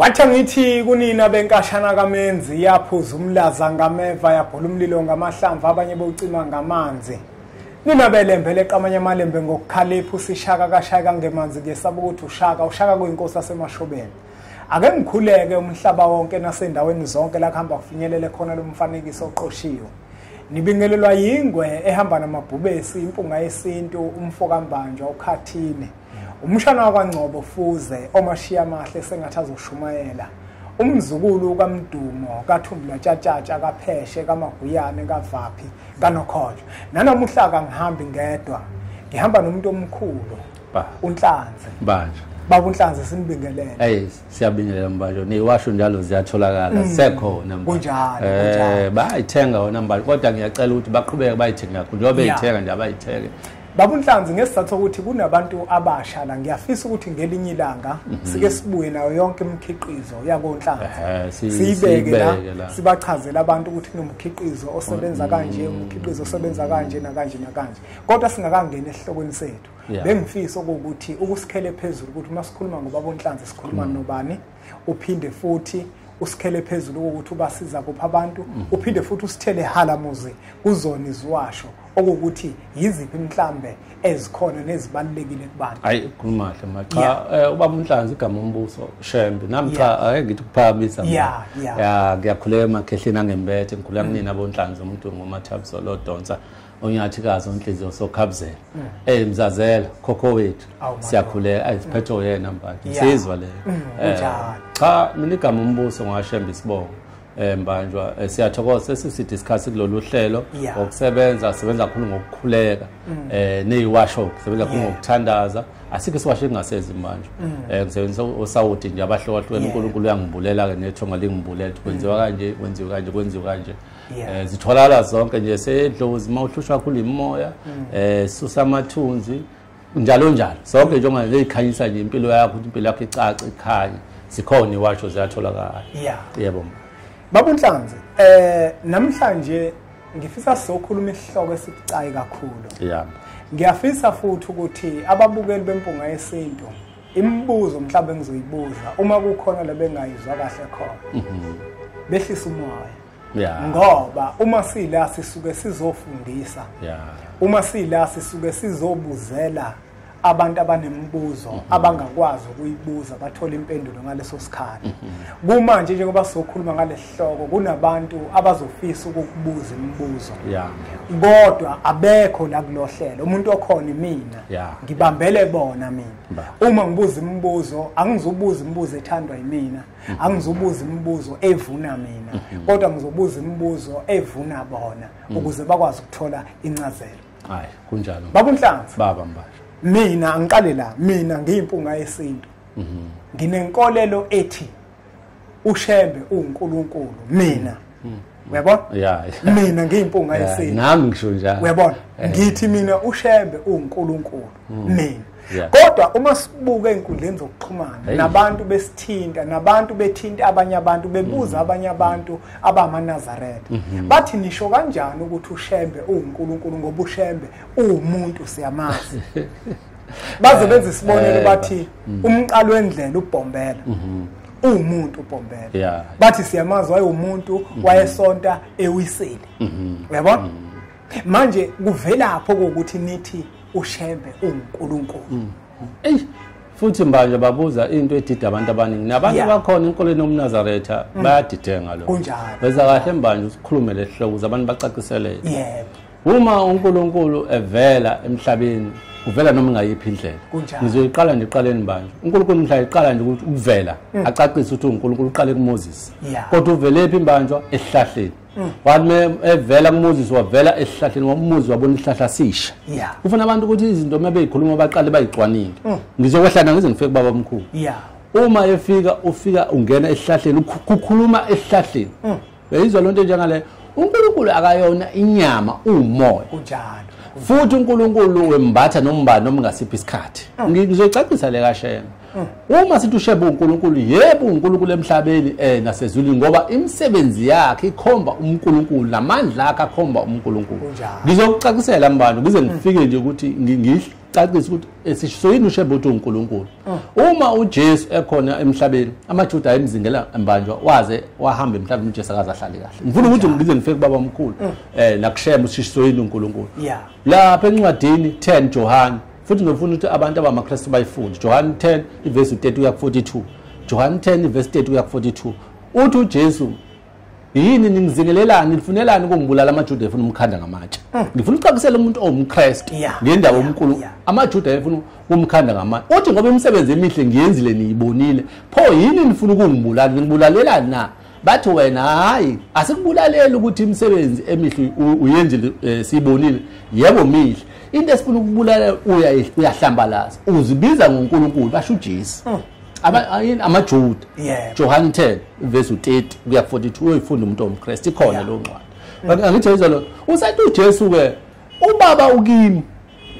Wathi angithi kunina benkashana kamenzi yaphuza umlaza ngameva yabhola umlilo ngamahlamvu abanye bowucima ngamanzi. Nina belembele qamanye amalembe ngokukhalipha usishaka kashaya kangemanzi kuyesaba ukuthi ushaka ushaka kuyinkosi asemashobeni. Ake ngikhuleke umhlaba wonke nasendaweni zonke la kuhamba kufinyelele khona lo mfanekiso oqoshiwe. Nibingelelwa yingwe ehamba namabhubesi impunga yesintu umfo kambanjwa ukhathine. Umshana wakwaNgcobo Fuze omashiya amahle sengathi azoshumayela. Umzukulu kaMdumo kaThumbula Tshatshatsha kaPheshe kaMaguyane kaVaphi kaNokhojo. Nanamuhla kangihambi ngedwa. Ngihamba nomuntu omkhulu. Ba. UNhlanzi. Banje. Baba uNhlanzi simbingelele. Hey siyabingelela mbajo. Niwasho njalo ziyatholakala. Mm. Sekhona mbajo. Kunjalo. Eh bayithenga wona mbajo kodwa ngiyacela ukuthi baqhubeke bayithenga kakhulu. Njengoba beyithenga nje abayithenge. Babu Nhlanzi ngesizathu sokuthi kunabantu abasha la ngiyafisa ukuthi ngelinye ilanga mhm. sike sibuye nayo yonke imikhiqizo yakoNhlanzi siyibeke la sibachazela abantu ukuthi kunomkhiqizo osebenza mm. kanje umkhiqizo osebenza kanje nakanje nakanje kodwa singakangena esihlokweni sethu bengifisa ukuthi ukusikhele phezulu ukuthi uma sikhuluma ngoBabu Nhlanzi sikhuluma mm. nobani uphinde futhi usikhele phezulu kokuthi ubasiza kuphi abantu mm. uphinde futhi usithele halamuzi kuzona iziwasho okuwukuthi yiziphi mhlambe ezikhona nezibalulekile kubantu hayi kumahle ma cha eh, ubaba umhlanzi igama umbuso shembe nami cha ake ngithi kuphakamisa ya ya ngiyakhuleka emakhehleni angembethe ngikhuleka mm. kunina bonhlanzi umuntu ngomathabso lodonsa onyathikazi onhliziyo sokhabzela mm. eh mzazela khokho wethu siyakhuleka ayiphethe mm. yena mbantu nsizwa le mm, eh, cha mina igama umbuso ngashemba isibongo eh mbanjwa eh, siyathokoza sesiside isikhathi kulolu hlelo ngokusebenza sebenza kakhulu ngokukhuleka eh neyiwasho sebenza kakhulu ngokuthandaza asikho siwasho kungasezi manje eh ngisebenzisa osawuti nje abahlokahlukene uNkulunkulu uyangibulela ke nethonga lingibulela kwenziwa kanje kwenziwa kanje kwenziwa kanje, kwenziwa kanje. Eh, zitholakala zonke nje sedlozi uma uhlushwa kakhulu yimoya mm. eh susa amathunzi njalo njalo sonke njengoba leyikhanyisa nje impilo yakho impilo yakho icaca ikhanya sikhona iwasho ziyatholakala yeah yebo babunhlanzi eh namhlanje ngifisa sokhuluma isihloko esibucayi kakhulu yeah ngiyafisa futhi ukuthi ababukeli bempunga yesintu imibuzo mhlawumbe engizoyibuza uma kukhona lebengayizwa kahle khona mhm. behlisa umoya yeah. ngoba uma sila sisuke sizofundisa yeah. uma sila sisuke sizobuzela abantu abanemibuzo mm -hmm. abangakwazi ukuyibuza bathola impendulo ngaleso sikhathi mm -hmm. kumanje njengoba sizokhuluma ngalesihloko kunabantu abazofisa ukukubuza imibuzo yeah. kodwa abekho la kulohlelo umuntu okhona imina yeah. ngibambele bona mina bah. uma ngibuza imibuzo angizubuza imibuzo ethandwa yimina mhm. angizobuza imibuzo evuna mina mhm. kodwa ngizobuza imibuzo evuna bona mhm. ukuze bakwazi ukuthola incazelo hayi kunjalo baba unhlanzi baba mbasha mina angiqale la mina ngiyimpunga yesintu nginenkolelo ethi ushembe uNkulunkulu mina uyabona yeah, yeah. mina ngiyimpunga yeah, yesini nami ngisho njalo uyabona yeah. ngithi mina ushembe uNkulunkulu mm. mina yeah. kodwa uma sibuka ezinkundleni zokuxhumana hey. nabantu besithinta nabantu bethinta abanye abantu bebuza mm. abanye abantu abamanazaretha mm -hmm. bathi nisho kanjani ukuthi ushembe uNkulunkulu ngoba ushembe uwumuntu siyamazi baze benze isibonelo eh, bathi mm. umqalo wendlela ubhombela mm -hmm. uwumuntu uBhombela yeah. bathi siyamazi wayewumuntu mm -hmm. wayesonta ewiseli mm -hmm. uyabona mm -hmm. manje kuvelapho ukuthi nithi ushembe uNkulunkulu mm -hmm. eish futhi manje babuza into edida abantu abaningi nabantu yeah. bakhona enkolweni yomnazaretha mm. bayadidenga lo kunjalo beza kahle manje usikhulumele ehloko abantu bacaciseleke yebo yeah. uma uNkulunkulu evela emhlabeni uvela noma ingayiphi indlela ngizoyiqala nje iqaleni manje uNkulunkulu mhla iqala nje ukuthi ukuvela mm. acacise ukuthi uNkulunkulu uqale kuMoses kodwa uvelephi imbanjwa esihlahleni mm. wathi evela kuMoses wavela esihlahleni wamuzi wabona isihlahla sisha ufuna abantu ukuthi izinto uma beyikhuluma baqale bayicwanile mm. ngizokwehlana ngize ngifike kubaba omkhulu uma efika ufika ungena esihlahleni kukhuluma esihlahleni beyizwa lonto njengale uNkulunkulu akayona inyama umoya kunjalo futhi uNkulunkulu wembatha nombani noma ngasiphi isikhathi mm. ngizoyicacisa le kashema mm. uma sithi ushebe uNkulunkulu yebo uNkulunkulu emhlabeni eh nasezulwini ngoba imisebenzi yakhe ikhomba uNkulunkulu namandla akhe akhomba uNkulunkulu ngizokucacisela mbani ngize mm. ngifike nje ukuthi cacisa ukuthi esisho yini ushembe ukuthi uNkulunkulu oh. uma uJesu ekhona emhlabeni amaJuda ayemzingela embanjwa waze wahamba emhlabeni uJesu akaze ahlale kahle ngifuna ukuthi ngize ngifike kubaba omkhulu mm. eh nakushembe usisho yini uNkulunkulu lapha encwadini 10 Johane futhi ngifuna ukuthi abantu abamaKristu bayifunde Johane 10 ivesi 30 kuya 42 Johane 10 ivesi 30 kuya 42 uthi uJesu yini ningizingelelani nifunelani ukungibulala amajuda efuna umkhanda ngamatshe mm. ngifuna ucakisela umuntu owumkrestu ngendawo omkhulu amajuda efuna umkhanda ngamatshe uthi ngoba imisebenzi emihle ngiyenzile niyibonile pho yini nifuna ukungibulala ningibulalelani na bathi wena hhayi asikubulaleli ukuthi imisebenzi emihle uyenzile um eh, siyibonile yebo mihle into esifuna ukubulalela uyahlambalaza uzibiza ngonkulunkulu basho ujesu mm. abayini amajuda Johann 10 verse 30 kuya 42 uyifunda umuntu omKristu ikhona lo ncwadi mm. angithi izwa lo usathi uJesu ke ubaba ukimi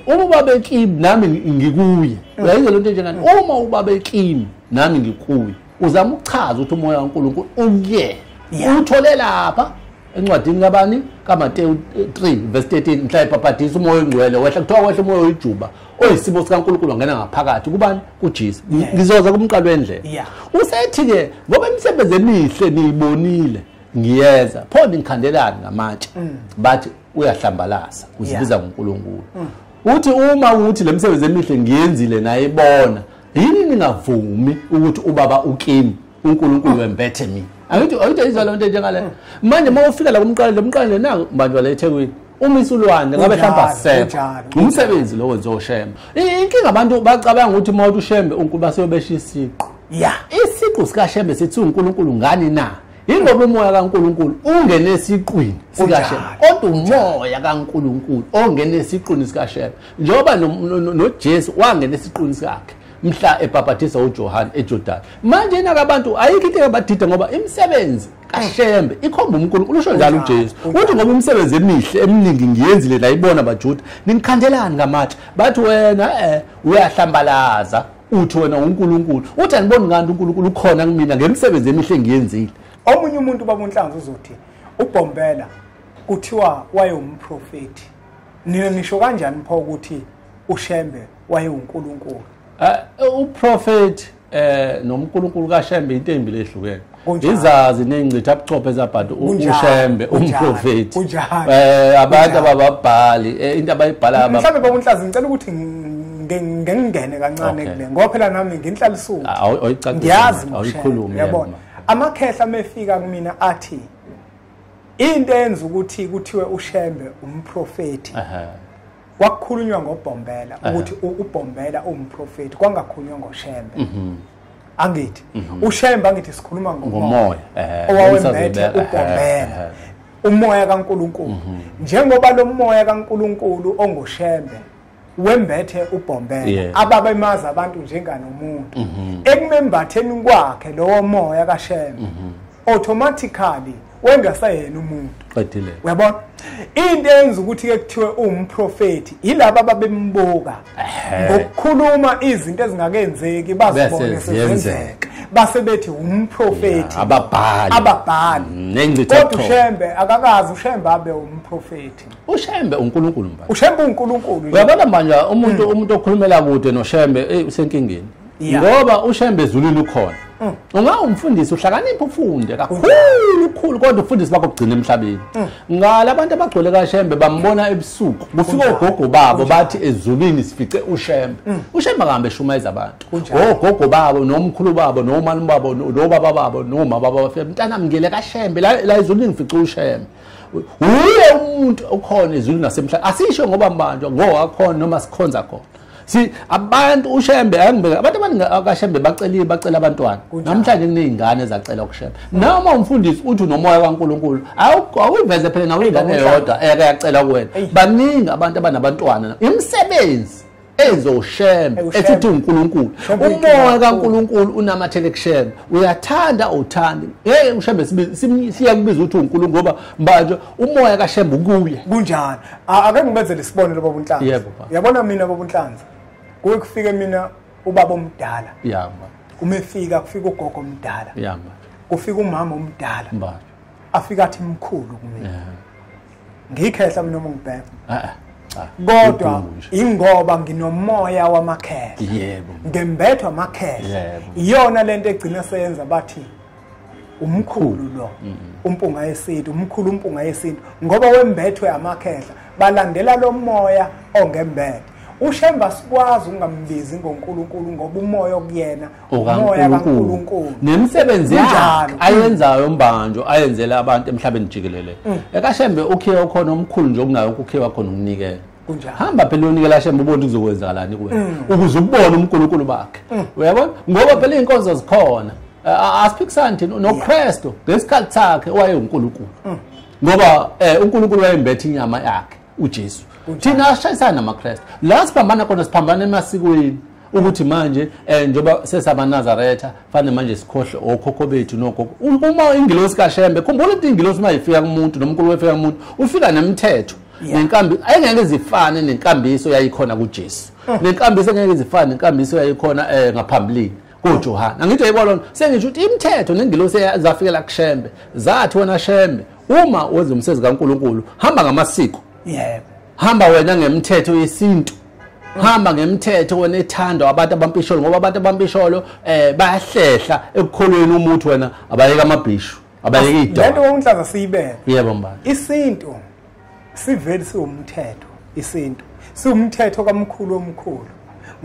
uma ubaba ekimi nami ngikuye mm. uyayizwa lento njengani uma ubaba ekimi nami ngikuye uzama ukuchaza ukuthi umoya kaNkulunkulu ukuyena uthole lapha encwadini kabani kaMateyu 3 verse 13 mhla ebhabhadisa umoya ongcwele wehla kuthiwa wehla umoya oyijuba oyisimo sikaNkulunkulu ngena ngaphakathi kubani kuJesu ngizoza kumqalo wendlela usethi ke ngoba imisebenzi emihle niyibonile ngiyeza pho ngikhandelani ngamatshe mm. bathi uyahlambalaza uzibiza ngoNkulunkulu mm. uthi uma uthi le misebenzi emihle ngiyenzile nayibona yini ningavumi ukuthi ubaba ukimi uNkulunkulu wembethe mina angithi angithi ayizwa le nto njengale manje uma ufika la kumqala lo mqala le nangu mbanjwa la eThekwini uma isulwane ngabe hlamba sepe umsebenzi lowo nje oshembe inkinga abantu bacabanga ukuthi uma uthi ushembe uNkulunkulu basebesha isiqu ya isiqu sikashembe sithi uNkulunkulu ngani na yingoba umoya kaNkulunkulu ungene esiqwini sikashembe kodwa umoya kaNkulunkulu ongene esiqwini sikashembe njengoba noJesu wangena esiqwini sakhe mhla ebhabhadisa uJohane eJordani manje naka abantu ayikho into engabadida ngoba imisebenzi kashembe ikhomba uNkulunkulu usho njalo uJesu uthi ngoba imisebenzi emihle eminingi ngiyenzile la ibona baJuda ninikhandelani ngamatshe bathi wena eh uyahlambalaza uthi wena uNkulunkulu uthi aniboni kanti uNkulunkulu ukhona kumina ngemisebenzi emihle ngiyenzile omunye umuntu babunhlanzi uzothi uBhombela kuthiwa wayewumprofeti nina nisho kanjani pho ukuthi uShembe wayewuNkulunkulu eh, uprofeti eh noMkulunkulu kaShembe into embi lehlukene izazi nengcitha abuchophe zabhadi uShembe umprofeti eh abantu abababhali eh, into abayibhala mhlawumbe babunhlazi ngicela ukuthi ngengene kancane kule ngoba phela nami nginhlala isuku ah, ngiyazi awuyikhulumi yabona amakhehla mefika kumina athi into enza ukuthi kuthiwe uShembe umprofeti kwakukhulunywa ngobhombela eh. ukuthi ubhombela umprofeti kwangakhulunywa ngoshembe mhm. angithi mhm. ushembe angithi sikhuluma ngomoya eh, owawembethe ubhombela umoya kaNkuluNkulu mhm. njengoba lo moya kaNkuluNkulu ongoshembe wembethe ubhombela ababemazi abantu njenganomuntu ekumembatheni kwakhe lowo moya kashembe automatically wengasayena umuntu qedile uyabona into eyenza ukuthi ke kuthiwe uwumprofeti yilabo ababembuka ngokukhuluma izinto ezingakenzeki bazibone sezenzeka base bethi umprofeti ababhali ababhali mm, nengcithe kodwa ushembe akakazi ushembe abe umprofeti ushembe uNkulunkulu manje ushembe uNkulunkulu uyabona manje umuntu mm. umuntu okhulumela kude noshembe usenkingeni Yeah. ngoba ushembe ezulwini ukhona Mm. ungawumfundisi uhlakanipha ufunde kakhulu khulu kodwa ufundisi bakho kugcina emhlabeni Mm. ngala abantu abagcwele kashembe bambona ebusuku kufika ogogo babo bathi ezulwini sifice ushembe Mm. ushembe akahambe eshumayeza abantu ogogo babo nomkhulu babo nomani babo no- nobaba babo nomama babo bafika mntanami ngele kashembe la la ezulwini ngifice ushembe wuye umuntu okhona ezwini nasemhlabeni asisho ngoba mbanjwa ngowakhona noma sikhonza khona si abantu ushembe angibeke abantu abaningi akashembe bacelile bacela abantwana namhlanje kuney'ngane ezacela ukushembe noma umfundisi uthi unomoya kankulunkulu awuyiveze phela nawe ingane yodwa eyake yacela kuwena baningi abantu abanabantwana imisebenzi enze ushembe ethi uthi uNkulunkulu umoya kaNkulunkulu unamathele kushembe uyathanda uthandi hey ushembe siya kubiza ukuthi uNkulunkulu ngoba manje umoya kaShembe ukuye kunjani ake ngibenzele isibonelo baba uNhlanzi yebo yabona mina baba uNhlanzi kuwe kufike mina ubaba omdala yama uma efika kufika ugogo omdala yama kufika umama omdala afika athi mkhulu kumina ngikhehla mina uma ngibheka ah, ah, ah. kodwa ingoba nginomoya wamakhehla yebo ngembethwa amakhehla iyona lento egcina seyenza bathi umkhulu lo umpunga yesintu umkhulu umpunga yesintu ngoba wembethwe amakhehla balandela lo moya ongembethe ushemba sikwazi ukungambizi ngoNkulunkulu ngoba umoya okuyena okaNkulunkulu nemisebenzi yakhe ayenzayo mbanjo ayenzele abantu emhlabeni jikelele mm. ekashembe ukhiye okhona omkhulu nje okunayo ukukhiye wakhona ukunikela hamba phela uyonikela shembe ubone kuzokwenzakalani kuwena mm. ukuze ukubone uNkulunkulu bakhe mm. uyabona ngoba phela izinkonzo zikhona asiphikisani thina noKristu ngesikhathi sakhe wayenguNkulunkulu ngoba eh, uNkulunkulu wayembethe inyama yakhe uJesu thina ashayisana namaKristu la siphambana khona siphambana emasikweni ukuthi manje eh njoba sesabanazaretha fane manje sikhohle okhokho bethu nogogo uma ingilosi kashembe khumbula ukuthi ingilosi uma ifika kumuntu nomkulu wefika kumuntu ufika nemthetho nenkambi ayengeke zifane nenkambiso yayikhona kuJesu mm. nenkambiso engeke zifane nenkambiso yayikhona eh ngaphambilini kuJohane angithi yayibona sengisho ukuthi imithetho nengilosi zafikela kushembe zathi wena shembe uma wenza umsebenzi kaNkuluNkulu hamba ngamasiko yebo hamba wena ngemthetho yesintu hamba ngemthetho wena ethando abantu abampisholo ngoba abantu abampisholo eh bayahlehla ekukholweni umuthi wena abayeka amabhishu abayeka idwa lento wonhlaza siyibeke yebo mbala isintu siveli siwumthetho isintu siwumthetho kamkhulu omkhulu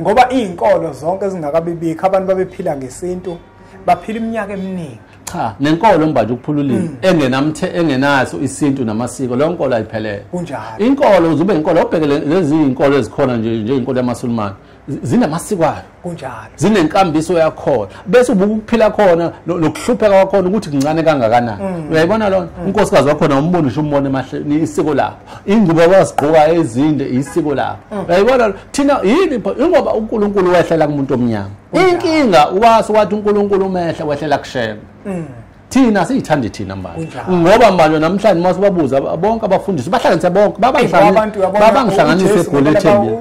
ngoba izinkolo zonke zingakabibikho abantu babephila ngesintu baphila iminyaka eminingi cha nenkolo mbathi ukuphululile mm. engenamthe engenaso isintu namasiko leyo nkolo ayiphelele kunjalo inkolo uzube inkolo obhekele lezi inkolo ezikhona nje nje inkolo yamasulumane zinamasiko ayo kunjalo zinenkambiso yakhona bese ubuka ukuphila khona nokuhlupheka kwakhona ukuthi kuncane kangakanani mm. uyayibona lona mm. unkosikazi wakhona umbona usho umbona emahleni isiko lakho ingubo abazigqoka ezinde isiko lakho uyayibona thina yini ingoba uNkulunkulu wehlela kumuntu omnyama inkinga uwase wathi uNkulunkulu umehla wehlela kushema mm. thina siyithanda thina manje ngoba manje namhlanje uma sibabuza bonke abafundisi bahlanganise bonke babangihlanganise egoli ethembile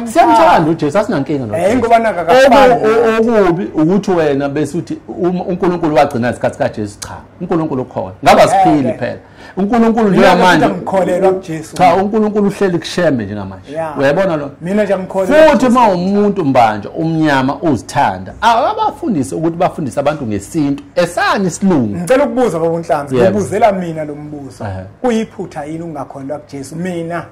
siyamthanda ujesu asinankinga nokubi ukuthi wena bese uthi unkulunkulu wagcina isikhathi kajesu cha unkulunkulu ukhona ngaba siphili phela uNkulunkulu njengamanje ngikholelwa kuJesu cha uNkulunkulu uhleli kushembe njengamanje uyayibona lo mina nje ngikholelwa futhi uma umuntu mbanje umnyama uzithanda abafundise ukuthi bafundise abantu ngesintu esani isilungu ngicela ukubuza baba uNhlanzi ngibuzela mina lo mbuzo kuyiphutha yini ungakholelwa kuJesu mina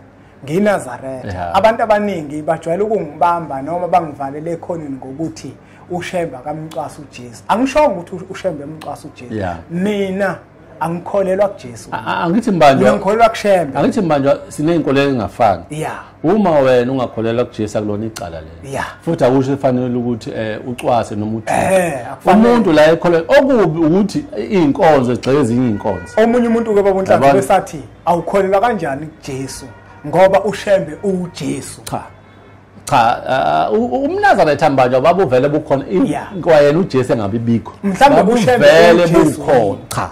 nginazaretha abantu abaningi bajwayele ukungibamba noma bangivalele ekhoneni ngokuthi ushembe akamcwasa uJesu angishongo ukuthi ushembe emcwasa uJesu mina angikholelwa kuJesu A- a- angithi mina mbanjwa ngikholelwa kuShembe angithi mbanjwa siney'nkolelo engafani ya uma wena ungakholelwa kujesu akulona icala lelo ya futhi akusho efanele ukuthi um ucwase noma uthini eh akufanele umuntu la ekholelwa okubi ukuthi iy'nkonzo egxeke ezinye iy'nkonzo omunye umuntu ke babonhlanhla Yabona. besathi awukholelwa kanjani kuJesu ngoba uShembe uJesu cha cha uh, uh, umnazana ethambanjwa babuvele bukhona kwayena uJesu engabi bikho mhlawumbe buvele bukhona cha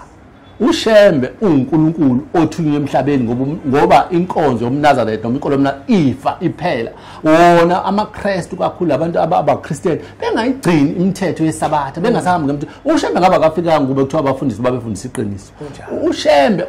ushembe uNkulunkulu othunywe emhlabeni ngoba ngoba inkonzo yomnazana noma inkolo yomna ifa iphela wona amaKristu kakhulu abantu abaChristian bengayigcini imithetho yesabatha bengasahambi ngemthetho ushembe ngaba kafika ngoba kuthiwa abafundisi babefundisa iqiniso ushembe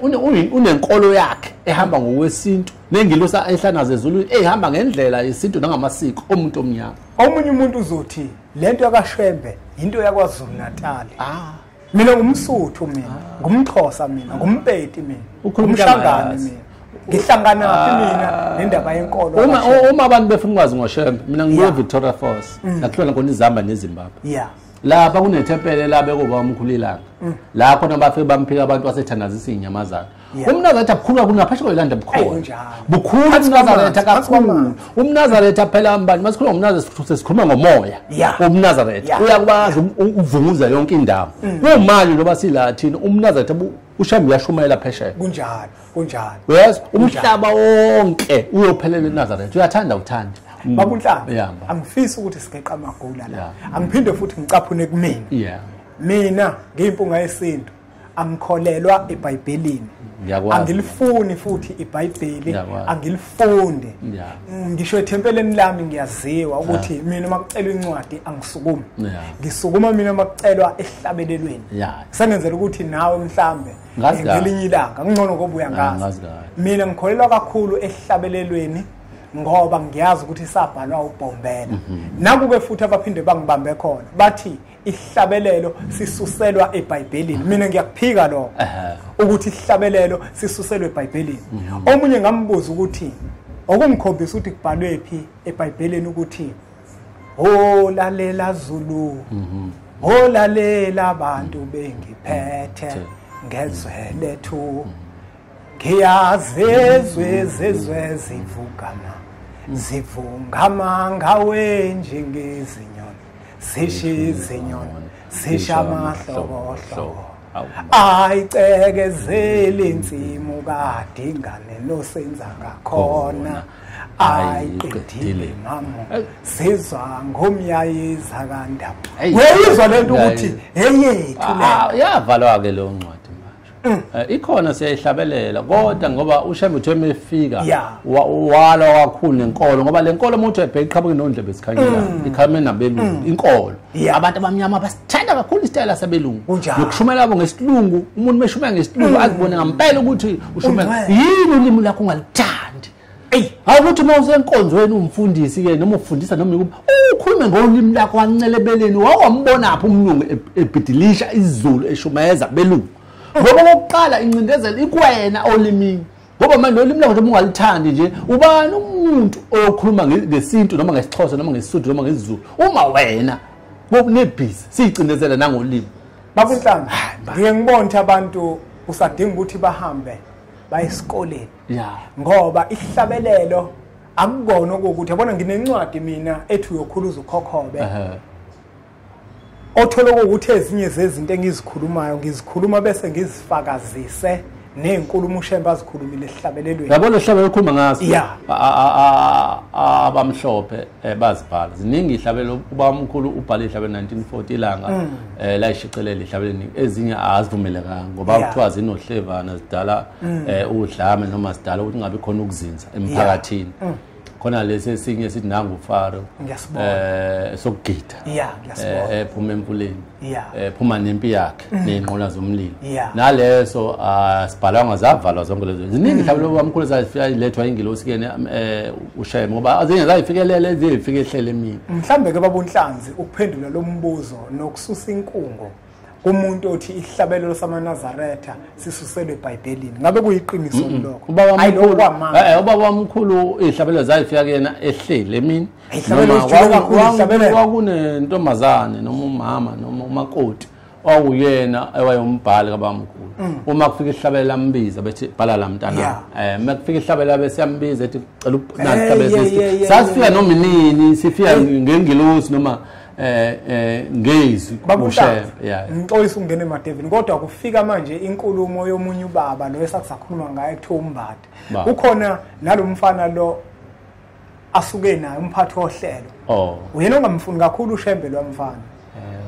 unenkolo yakhe ehamba ngokwesintu nengilosi ehlanaze ezulwini eyihamba ngendlela yesintu nangamasiko omuntu omnyama omunye umuntu uzothi le nto yakashembe yinto yakwazulu natali ah. mina ngumsuthu mina ah. ngumxhosa mina ngumpeti mina ngumshangane mina ngihlangana phi ah. mina nendaba yenkolo uma uma abantu befuna ukwazi ngoshembe mina ngibuye Victoria Falls mm. lakhona khona izihamba neZimbabwe yeah lapha kunethempele labekuba umkhulilanga mm. la khona bafike bamphika abantu basethandazisa inyamazana umnazaretha bukhulu kakhulu naphesha kwelanda bukhona bukhulu umnazaretha kakhulu umnazaretha phela mbani masikhuluma ngomnazaretha sesikhuluma ngomoya umnazaretha uyakwazi ukuvunguza yonke indawo mm. kumanje njengoba sila thina umnazaretha ushambe uyashumayela phesheya kunjalo kunjalo yes umhlaba wonke uyophelela enazaretha uyathanda uthanda mm. bakunhlaba angifisi ukuthi sigeqa amagula la angiphinde futhi ngicaphune kumina mina ngiyimpunga yesintu angikholelwa ebhayibhelini angilifuni futhi ibhayibheli angilifunde mm, ngisho ethempeleni lami ngiyaziwa ukuthi mina uma kucelwa incwadi angisukumi ngisukuma mina uma kucelwa ehlabelelweni sengenzela ukuthi nawe mhlambe ngelinye ilanga kungcono ngoba uyangazi mina ngikholelwa kakhulu ehlabelelweni ngoba ngiyazi ukuthi sabhalwa ubhombela mhm. nakuke futhi abaphinde bangibambe khona bathi ihlabelelo sisuselwa ebhayibhelini mina ngiyakuphika lokho ukuthi ihlabelelo sisuselwa ebhayibhelini mhm. omunye ngambuza ukuthi okungikhombisa ukuthi kubhalwe phi ebhayibhelini ukuthi olalela zulu mhm. olalela abantu bengiphethe ngezwe lethu mhm. ngiyazezwe zezwe zivugama zivungama ngawe njengezinyoni zisho izinyoni zisho amahlobohlobo ayicekezeli insimu kadingane nosenza ngakhona ayiqedile mama sizwa ngomyayiza kandawo weyizwa lento ukuthi eyethu ah, yavalwa-ke leyo ncwadi Mm. Eh, ikhona siyayihlabelela kodwa ngoba ushembe uthe mefika wala kakhulu nenkolo ngoba le nkolo umuntu ebheka iqhabuke nondlebe esikhanyela mm. ikhame nabelungu mm. inkolo abantu abamnyama basithanda kakhulu isitayela sabelungu nokushumela abo ngesilungu umuntu meshumela ngesilungu azibone ngampela ukuthi ushumela yini ulimi lakho ungalithandi eyi awukuthi uma usenkonzweni umfundisi ke noma ufundisa noma ikuba ukhulume ngolimi lakho wancelebeleni wawambonaphi umlungu ebhidilisha izulu eshumayeza belungu ngoba kokuqala incindezelo ikwena olimini ngoba manje nolimi lakho noma ungalithandi nje ubani umuntu oyokhuluma ngesintu noma ngesixhosa noma ngesisuthu noma ngesizulu uma wena kunebhizi siyicindezela nangolimi bakunhlanga ngiye ngibona ukuthi abantu usadinga ukuthi bahambe baye esikoleni ya ngoba isihlabelelo akukona ukuthi yabona nginencwadi mina ethi uyokhuluza ukhokhobe othola ukuthi ezinye zezinto engizikhulumayo ngizikhuluma bese ngizifakazise nezinkulumo ushembe azikhulumile esihlabelelweni yabona esihlabelo okhuluma ngaso ya abamhlophe eh, bazibhala ziningi ihlabelo ubamkhulu ubhale ihlabelo 1940 ilanga mm. eh la ishicelele ihlabeleni ezinye azivumelekanga ngoba kuthiwa zinohlevana zidala mm. eh udlame noma zidala ukuthi ngabe khona ukuzinza emphakathini mm. khona lesi esinye sithi nangu faro eh sokugida yeah ngiyasobola eh, ephuma emfuleni yeah ephuma eh, nempi yakhe mm. nezinqola zomlilo naleso asibhalanga ah, zavalwa zonke lezo ziningi mhlawumbe mm. lobamkhulu zafika ilethwa ingilosi kene eh ushayeme ngoba azinge zayifikelele ezifike ehlele mina mhlambe ke babunhlanzi ukuphendula lombuzo nokususa inkungo kumuntu othi isihlabelelo samanazaretha sisuselwe ebhayibhelini ngabe kuyiqiniso lokho hayi lokho kwamanga eh, eh, ubaba wamkhulu izihlabelelo zayifika kuyena ehleli emini kwakunentombazane noma umama noma umakoti owuyena ewayombhali kabamkhulu mm. uma kufika ihlabela ambiza bethi bhala la mntana eh uma kufika ihlabela bese yambiza ethi cela ukunani ihlabela sasifika noma inini sifika ngengilosi noma eh eh ngezi kushe yeah ngixolisa ukungena emadevini kodwa kufika manje inkulumo yomunye ubaba lo esakusakhuluma ngaye kuthiwa umbade kukhona nalomfana lo asuke naye umphathi ohlelo oh uyena ongamfuni kakhulu ushembe lo mfana eh.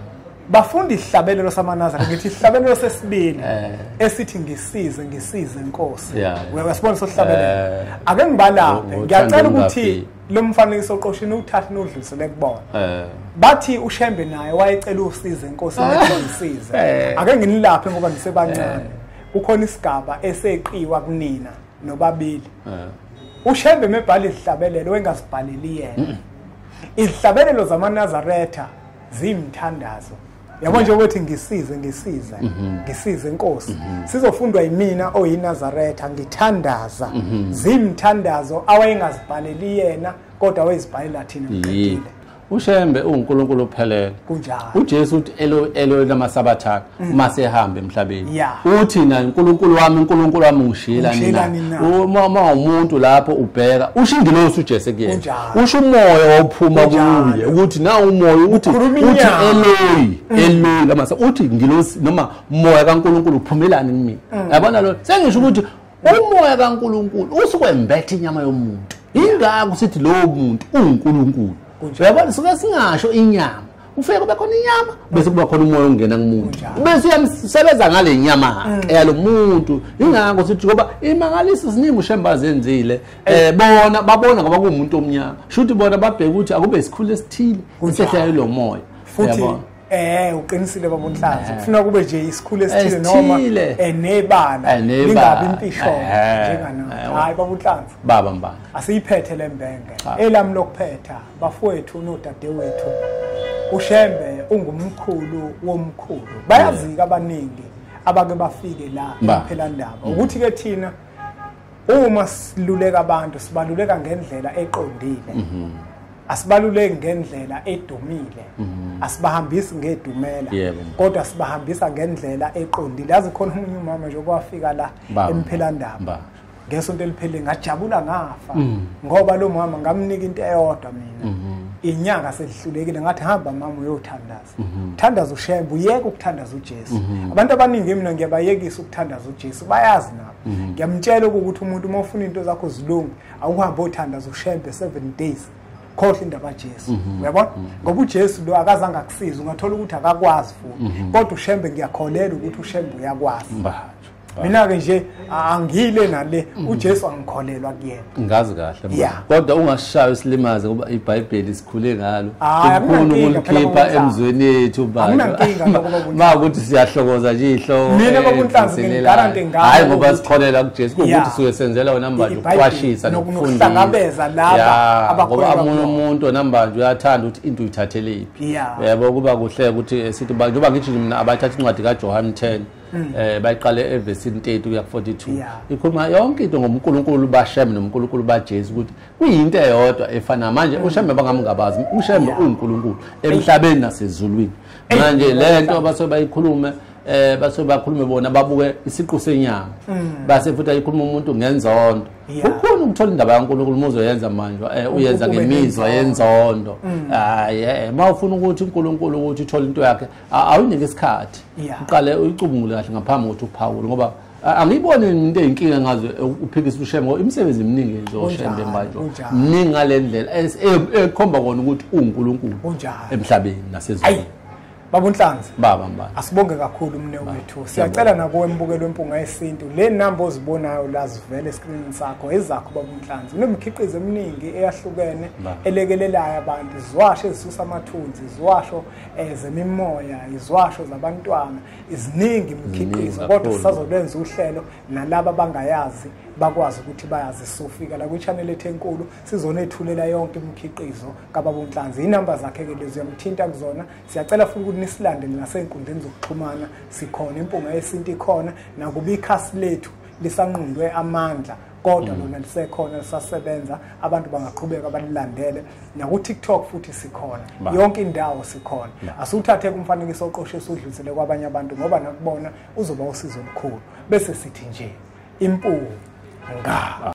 bafunda isihlabelelo samanazara ngithi isihlabelelo sesibili eh. esithi ngisize ngisize inkosi uyasibona sohlabelelo eh. ake ngibalaphe ngiyacela ukuthi lo mfanekiso oqoshini uthathe nodlulisele kubona eh. bathi ushembe naye wayecela usizo enkosini ngisize eh. ake nginilaphe ngoba ngisebancane eh. kukhona isigaba eseqiwa kunina nobabili ushembe mebhala izihlabelelo wengasibhaleli yena izihlabelelo zamanazaretha zimthandazo yabo nje ukuthi ngisize ngisize mhm. ngisize inkosi mhm. sizofundwa yimina oyinazaretha ngithandaza mhm. zimthandazo awayengazibhaleli yena kodwa wayezibhalela thina ngqedile ushembe ungunkulunkulu ophelele kunjalo ujesu uthi elo elo lamasabathana uma sehambe emhlabeni yeah. uthi na uNkulunkulu wami uNkulunkulu wami ungishila nina uma uma umuntu lapho ubheka usho ingilosi uJesu kuyena usho umoya ophuma kuye ukuthi na umoya uthi uthi eloyi mm. eloyi lama uthi ngilosi noma umoya kaNkulunkulu uphumelani kimi mm. yabona lo sengisho ukuthi umoya kaNkulunkulu usukwembethe inyama yomuntu ingakho sithi lowo muntu uNkulunkulu uyabona suke singasho inyama kufike kube khona inyama bese kuba khona umoya ongena kumuntu bese uyamsebenza ngale nyama mm. yalo muntu ingakho sithi ngoba imangalisi ziningi ushemba zenzile eh bona babona ngoba kuumuntu omnyama shuthi bona babheka ukuthi akube isikhulu esithile sehla lo moya futhi Eh uqinisile baba uNhlanzi kufuna eh. kube nje isikhulu esithile noma eh, nebala eh, lingabi impishwa njengana hayi baba uNhlanzi baba mbana asiyiphethe lembenge elam lokuphetha bafowethu nodadewethu ushembe ungumkhulu womkhulu bayazika abaningi abake bafike la phela ndaba mm. ukuthi ke thina uma siluleka abantu sibaluleka ngendlela eqondile mhm. asibaluleki ngendlela edumile mhm. asibahambisi ngedumela kodwa sibahambisa ngendlela eqondile yazi khona umunye umama nje okwafika la emphelandaba ngesonto eliphelile ngajabula ngafa mm. ngoba lo mama ngamnika into eyodwa mina mm-hmm. inyanga selihlulekile ngathi hamba mama uyothandaza mm-hmm. thandaza ushembe uyeke ukuthandaza uJesu mm-hmm. abantu abaningi mina ngiyabayekisa ukuthandaza uJesu bayazi nabo ngiyamtshela ukuthi umuntu uma ufuna into zakho zilunge awuhambe othandaza ushembe 7 days khohle indaba kaJesu mhm. uyabona mhm. ngoba uJesu lo akazange akusize ungathola ukuthi akakwazi futhi mhm. kodwa ushembe ngiyakholela ukuthi ushembe uyakwazi mina-ke nje angile nale mm. ujesu angikholelwa kuyena ngazi kahle kodwa ungashayo isilimaze ngoba ibhayibheli sikhule ngalo ufuna ukulikhipha emzweni yethu bama ukuthi siyahlokoza nje ihlokogarahayi eh, ngoba sikholela kujesu kuwukuthi suke senzela wena mbanjwa ukuqwashisa nokufundisangoba amunye umuntu wena mbanjwa uyathanda ukuthi into uyithatheleyiphi yabo kuba kuhle ukuthi eh, sithi njengoba ngithi mina abathatha incwadi kajohane 10 hmm. eh bayiqale evesini 30 kuya ku 42 ikhuluma yonke into ngoMkulunkulu bashem noMkulunkulu baJesu ukuthi kuyinto eyodwa efana manje hmm. ushembe bangamngabazi ushembe uNkulunkulu emhlabeni nasezulwini manje lento abaso bayikhulume eh base bakhulume bona babuke isiqu senyanga mm. base futhi ayikhuluma umuntu ngenzondo ukhona ukuthola indaba yaNkulunkulu muzoyenza manje eh uyenza ngemizwa yenzondo mm. hayi eh mawufuna ukuthi uNkulunkulu ukuthi uthole into yakhe awunike isikhathi uqale uyicubungule kahle ngaphambi kokuthi uphawule ngoba angiyiboni into eyinkinga ngaze uphikisa ushembe ngoba imisebenzi eminingi yenziwa ushembe manje mningi ngale ndlela ekhomba kona ukuthi uwunkulunkulu emhlabeni nasezweni baba unhlanzi baba mbani asibonge kakhulu umne wethu siyacela nakuwe mbukelo wempunga yesintu le namba ozibonayo la zivele eskrinini sakho ezakho baba unhlanzi kunemikhiqizo eminingi eyahlukene elekelelayo abantu ziwasho ezisusa amathunzi ziwasho ezemimoya eh, izwasho zabantwana iziningi imikhiqizo kodwa sisazokwenza uhlelo nalaba bangayazi bakwazi ukuthi bayazi sofika la kwichannel ethu enkulu sizonethulela yonke imikhiqizo kababa uNhlanzi inamba zakhe ke lezi uyamthinta kuzona siyacela futhi ukuthi nisilande nasenkundleni zokuxhumana sikhona impunga yesintu ikhona nakuba ikhasi lethu lisanqundwe amandla kodwa lona lisekhona lisasebenza abantu bangaqhubeka balilandele naku-tiktok futhi sikhona yonke indawo sikhona asiwuthathe kumfanekiso oqoshe siwudlulisele kwabanye abantu ngoba nakubona uzoba usizo olukhulu bese sithi nje impuwu nga